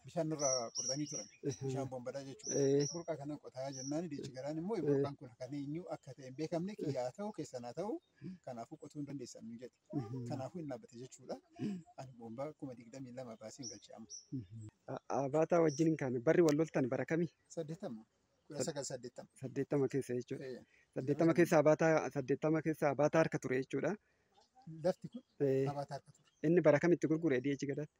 bishaan nurraa qortanii turan. Bishaan bombadhaa jechuudha. Eh. Burqaa kana qotaa jennaan diichi garaan immoo burqaan kun kan eenyu akka ta'e hin beekamne kiyyaa ta'u keessan haa ta'u kanaafuu qotuu hin dandeessan nu jedhe. Kanaafuu hin dhaabbate jechuudha. Ani bombaa kuma digdamii lama baasee hin galche amma. Abaataa wajjin kan barri wal loltan bara kami? Saddeettama. Kudha sagal saddeettama. Saddeettama keessa jechuudha. Eh, Saddeettama keessa abaataa saddeettama keessa abaataa harka ture jechuudha. Lafti kun Eh, abaataa harka ture. Inni bara kamitti gurgure DH gadaatti?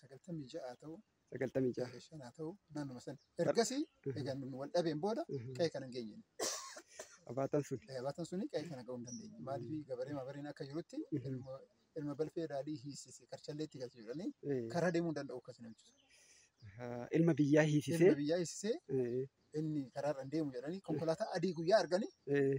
sagaltamii ja'aa ta'u sagaltamii ja'a. eh, shanaa ta'u naannuma sana ergasii egaa nu wal dhabeen booda qe'ee kana hin geenye Abaatan sun. Eh, abaatan suni qe'ee kana ga'uu hin dandeenye maaliif gabaree mabareen akka jirutti ilma ilma balfee raadii hiisise karchallee itti galche jedhanii Eh, karaa deemuu hin danda'u akkas namichi ah, Ilma biyyaa ilma hiisisee. biyyaa hiisisee eh, inni karaarra hin deemu jedhanii konkolaataa adii guyyaa arganii eh,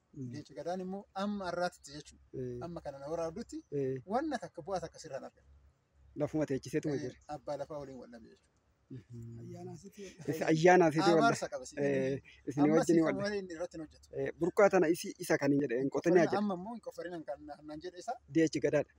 Leenci gadaan immoo amma har'aatitti jechuudha. Eh, Amma kana na waraabdutti eh, wanna takka bu'aa takka sirraan argata. Lafuma teechiseetuma jira. Eh, Abbaa lafaa waliin wal dhabe jechuudha. Ayyaanaa sitii Isa ayyaanaa fi walla. Abaarsa qaba si. Eh, Isin Ammas wajjin kan walla. malee inni irratti hin hojjetu. Eh, Burqaa tana isi isa kan hin jedhe hin qotanii Qoffarina jedhe. amma immoo hin qoffarinan kan naan jedhe isaa Deechi gadaadha.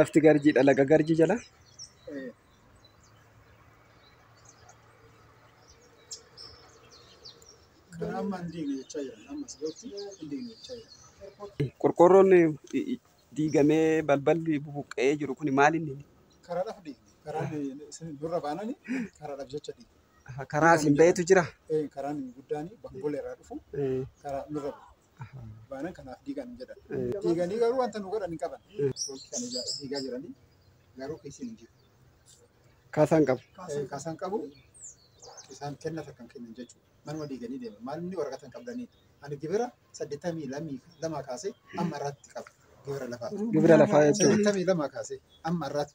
lafti garjiidha laga garjii jala qorqoorroon diigamee balballi bubuqqa'ee jiru kun maal inni karaadhaaf deemne karaan isin durra baanani karaadhaaf jecha deemne karaa isin ba'etu jira karaan guddaan bakka boleerraa dhufu karaa nurra bu'e. baanan kanaaf diigan hin jedhan. Diiganii garuu wanta nu godhan hin qaban. Foolki kan ija- diigaa jiranii garuu keessi hin jiru. Kaasaan qabu. Eh, Kaasaan qabu isaan kenna takka hin kennan jechuudha. Manuma diiganii deeman. Maal inni waraqata hin qabdanii. Ani gibira saddeettamii lamii lamaa kaasee amma irraatti qaba. Gibira lafaa. Gibira lafaa jechuudha. Saddeettamii lamaa kaasee amma irraatti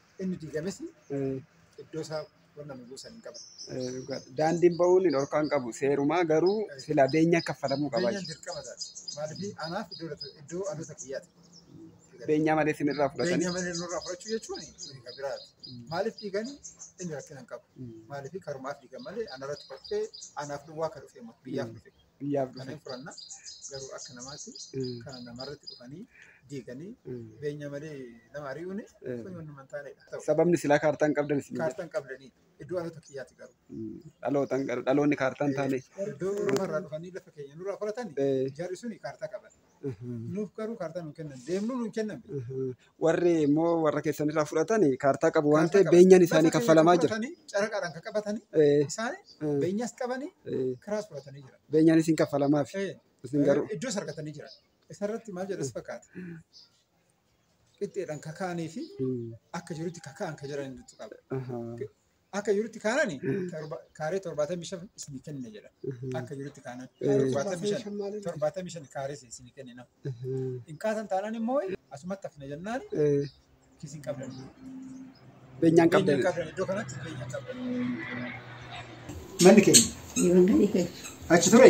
Inni diigames iddoo isaa wanna nu buusan hin qabu. Daandiin ba'uun hin dhorkaan qabu. Seerumaa garuu sila beenyaan kaffalamuu qaba. Beenyaan dirqama isaati. Maaliif anaaf iddoo dha- iddoo dhaloota kiyyaati. Beenyaa malee isin irraa fudhatanii. Beenyaa malee nurraa fudhachuu jechuun suni kan biraati. Maaliif diigan inni rakkina hin qabu. Maaliif karumaaf diigan malee anarratti kolfee anaaf duwwaa kan dhufe immoo biyyaaf dhufe. biyyaaf Kan dhufan. hin furanna garuu akka namaatti Mm. kana namarratti dhufanii diiganii Mm. beenya malee nama ari'uun Eh. kun waan nama hin taanedha. Ta'u, Sababni silaa kaartaa hin qabdan isin Kaartaa hin qabdanii iddoo alota kiyyaati garuu. dhalootan garuu dhaloonni kaartaa hin taane. Iddoo lafarraa dhufanii lafa keenya nurraa fudhatanii Eh. jarri suni kaartaa qaban. Nuuf garuu kaartaa nuun kennan. Deemnuu nuun kennan. Warri immoo warra keessan irraa fudhatan kaartaa qabu waan ta'eef beenyaan isaanii kaffalamaa jira. Caraqaadhaan kan qabatanii Eh, isaanii eh, beenyas qabanii eh, kiraas fudhatanii jira. Beenyaan isin kaffalamaaf. Eh, Isin garuu Iddoos argatanii jira. Isarratti maal jedhas fakkaata. Qixxeedhaan kakaanii fi Mm, akka jirutti kaka'an kan jiran hedduu qaba. aha. Akka jirutti kaanani torba- kaaree torbaatamii shan isinii kenne jedha. Akka jirutti kaanani torbaatamii shan torbaatamii shan kaaree isin- isinii kenne nama. Hin kaasan taanaan immoo asumatti hafna jennaan kiisiin qabdan. Beenyaan qabdan. Beenyaan qabdan iddoo kanatti beenyaan qabdan. Manni keenya Yoon gadi keessa. achi ture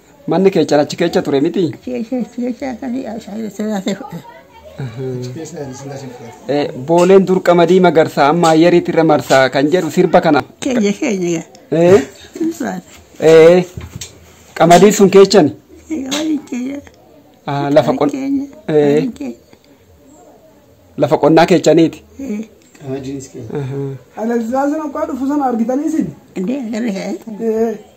Manni keechan achi keecha ture miti? Eh, Booleen dur qamadii magarsaa amma ayyariitti irra marsaa kan jedhu sirba kana. Keenya keenya gaa. Eh, Ulfaata. eh, qamadii sun keechan Egaa waliin keenya. ah, lafa qon- Keenya. eh, Waliin keenya. lafa qonnaa keechaniiti. Eh, Qamadiinis keenya. Ahaa. Alexander Okaa dhufu sana argitanii isin? Dee agarra kaa. Eh,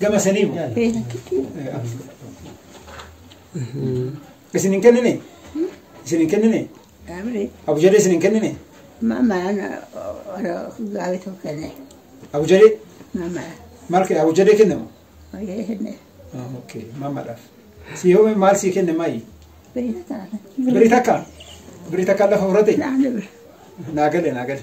Gama sanii moo? Isin hin kennine? Isin hin kennine? Abri, Abujalee isin hin kennine? mama ana ora gawe to kene. Abujalee Mama, maal kee abujalee kennama? oye hene. Ah, Okay, mamadhaaf. Si yoo maal sii kenne maayi? Bina ta. Birii takka? Birii takka lafa fudhate? Na ne. Naa gale naa gale.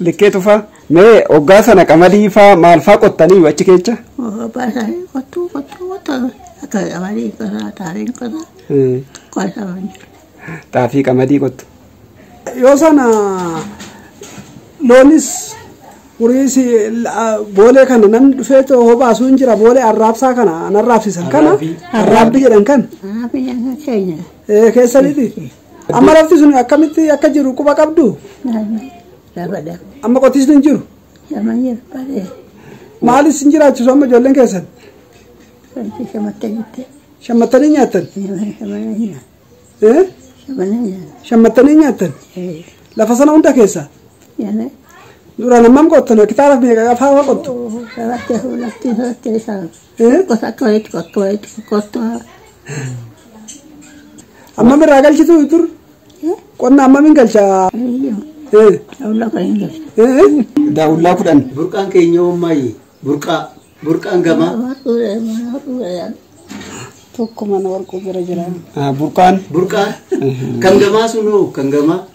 Likkee tufaa mee oggaa sana qamadii faa maal faa qottanii achi keecha? Baasanii qottuu qottuu qottan akka qamadii qotaa xaafiin qotaa qotaman jiru. Xaafii qamadii qottu. Yoo sana loonis horiis boolee kana namni dhufee too hobaasuu hin jira boolee arraabsaa kana an arraabsisan kana arraabbii jedhan kana Haa biyya keenya. ee keessaniiti. Amma lafti sun akkamitti akka jiru quba qabdu? Labada. Amma qotiisni hin jiru. Nama jiru baree. Maalis hin jiraachisu amma ijoolleen keessan? Wanti shamatta jirte. Shammattanii nyaattan? Shamana jira. Eh? Shamana jira. Shammattanii nyaattan? Eh. Lafa sana hunda keessaa? Yana. Duraan hammam qottan? Hektaara meeqa afaa waa qottu? Sabatti lafti sabatti isaa. Ammam irraa galchitu dur? Qonna ammamiin galcha? Daawullaa kudhan. Burqaan keenya uummaayyi. Burqaa. Burqaan gamaa. Tokko mana warquu bira jira. Burqaan. Burqaan. Kan gamaa sunoo kan gamaa.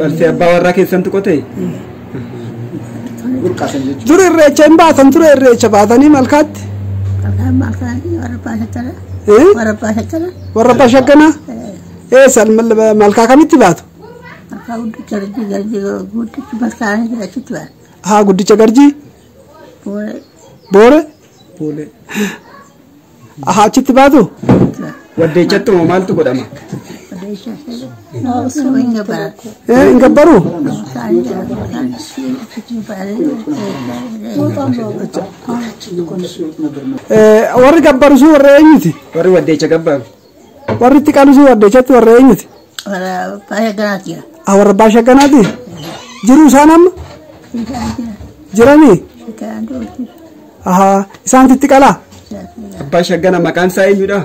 Balfee abbaa warraa keessantu qotee? Dur irreecha hin baatan ture irreecha baatanii malkaatti. Eh? Warra abbaa shagganaa? Eh san mal- malkaa kamitti baatu? Haa guddicha garjii? Boore? Boolee. Aha achitti baatu? Waddeechattuma maaltu godhama? Eh, hin gabbaru? Eh, warri gabbaru sun warra eenyuti? Warri waddeecha gabbaaru. Warri itti qalusii warde jechuun warra eenyuti? Warra baay'ee ganaati jira. Ah, warra abbaa shagganaati? Jiru isaan amma? Isaan jira. Jiranii? Isaan duuti. Ahaa, isaanti itti qalaa? Isaan jira. Abbaa shaggana maqaan isaa eenyudha?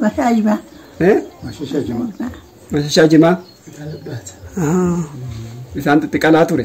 Masaa jimaa. Eh? Mashashaa jimaa. Ahaa. Isaanti itti qalaa ture.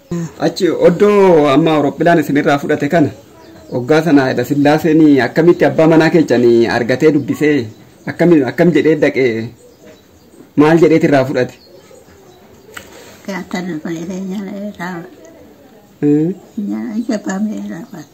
Achi oddoo amma Awurooppilaan isinirraa fudhate kana oggaa sana Hayila Sillaaseen akkamitti abbaa manaa keessan argatee dubbisee akkam akkam jedhee dhaqee maal jedheet irraa fudhate? Gaaftan obboleessa nyaala irraa Hmm? nyaala jabbaamee irraa baate.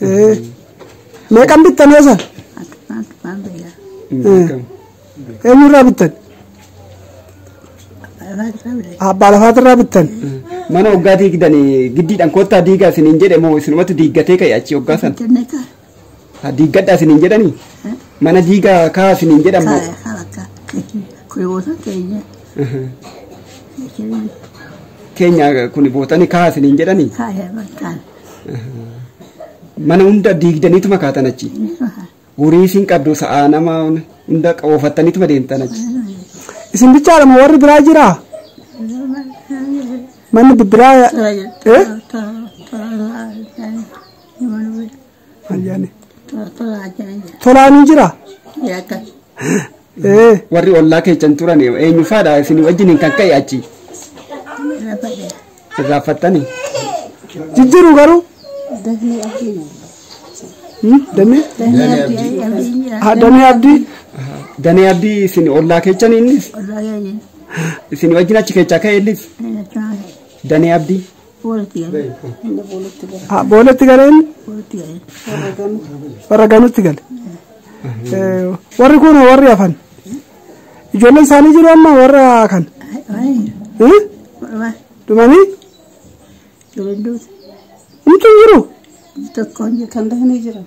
Eh, Meeqan bittan yoo san? Eh, Eenyurraa bittan? Abbaa lafaatirraa bittan. Mana hoggaa diigdan giddiidhaan koottaa diigaa isiniin jedhe moo isinumatu diiggatee ka'e achi hoggaa san. Ha, Diiggadhaa isiniin jedhanii? Mana diigaa kaa isiniin jedhan moo? Keenya kun bootanii kaa isiniin jedhanii? Mana hunda diigdaniitu makaatan achi. Horii isin qabdu sa'aa nama hunda oofattaniituma deemtan achi. Isin bichaadha moo warri biraa jiraa? Manni bibbiraa eh? Ayyaani. Tolaanii jiraa? Ee. Warri ollaa keessan turan eenyu faadha isin wajjiniin kan ka'e achi. Irraanfattanii. Jijjiiru garuu. Hmm, Damee. Ha, Damee Abdii. Danee abdii isin ollaa keessan innis isin wajjin achi keessaa ka'e innis danee abdii. Boolatti galeen warra ganutti gale. Warri kun warri hafan. Ijoolleen isaanii jiru amma warra kan. Dhumanii? Nuti hin jiru. Kan dahanii jiran.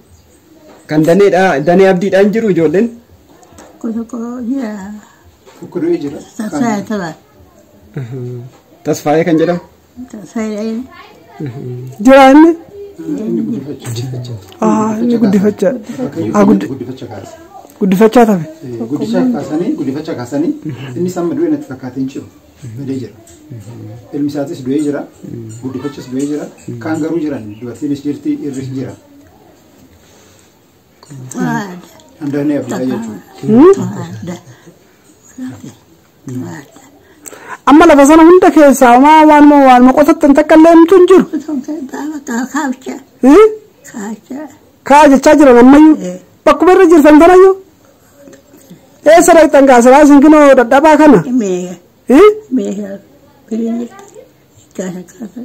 Kan daneedha danee abdiidha hin jiru ijoolleen. Tokko tokko jira. Tokko du'ee jira. Sassaayee tola. Tasfaayee kan jedhamu. Tasfaayeen. Jira inni. Ah, inni guddifachaa. Ah, guddi- Guddifacha kaasa. guddifachaa tafe. Eh, Guddicha kaasanii guddifacha kaasanii innis amma du'e natti fakkaatee hin jiru. Badee jira. Ilmi isaatis du'ee jira. Guddifachis du'ee jira. Kaan garuu jiran dubartiinis jirti irris jira. Waada. Handaanee abdii jechuudha. Waada. Amma lafa sana hunda keessaa homaa waanuma waanuma qotattan takka illee himtu hin jiru. Hii? Kaa jechaa jiran ammayyuu. Bakkuma irra jirtan tanayyuu. Eessa dhaqxan kaa silaa isin kinoo dadhabaa kana? Hii? Kana kaasa.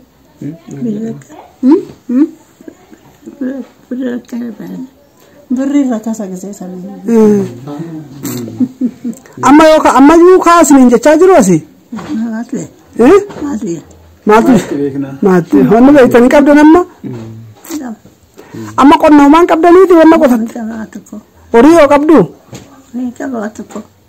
Birra akkana baana. Birri irra kasa gisee samii. Amma yoo ka- amma iyyuu kaasni hin jechaa jiru asi. Maaltu jee? Eh? Maaltu jee? Maaltu Maaltu beekna? maaltu wanni beektanii qabdan amma amma qonnoomaan qabdaniiti wanna qotan Qaba tokko. horii yoo qabdu Qaba tokko.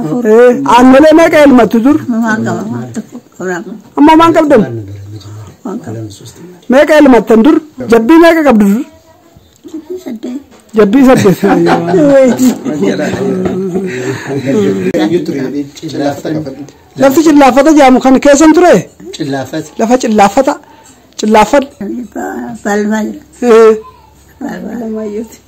Afur. Eh, aannolee meeqa elmattu dur Waan qaba waan tokko qabnaaf amma homaan qabdan waan qaba. meeqa elmattan dur jabbii meeqa qabdu dur Jibbii saddeet. jabbii saddeet lafti cillaaffata jedhamu kan keessan ture Cillaafas. lafa cillaaffata cillaaffadha Balbal. Eh, Balbal.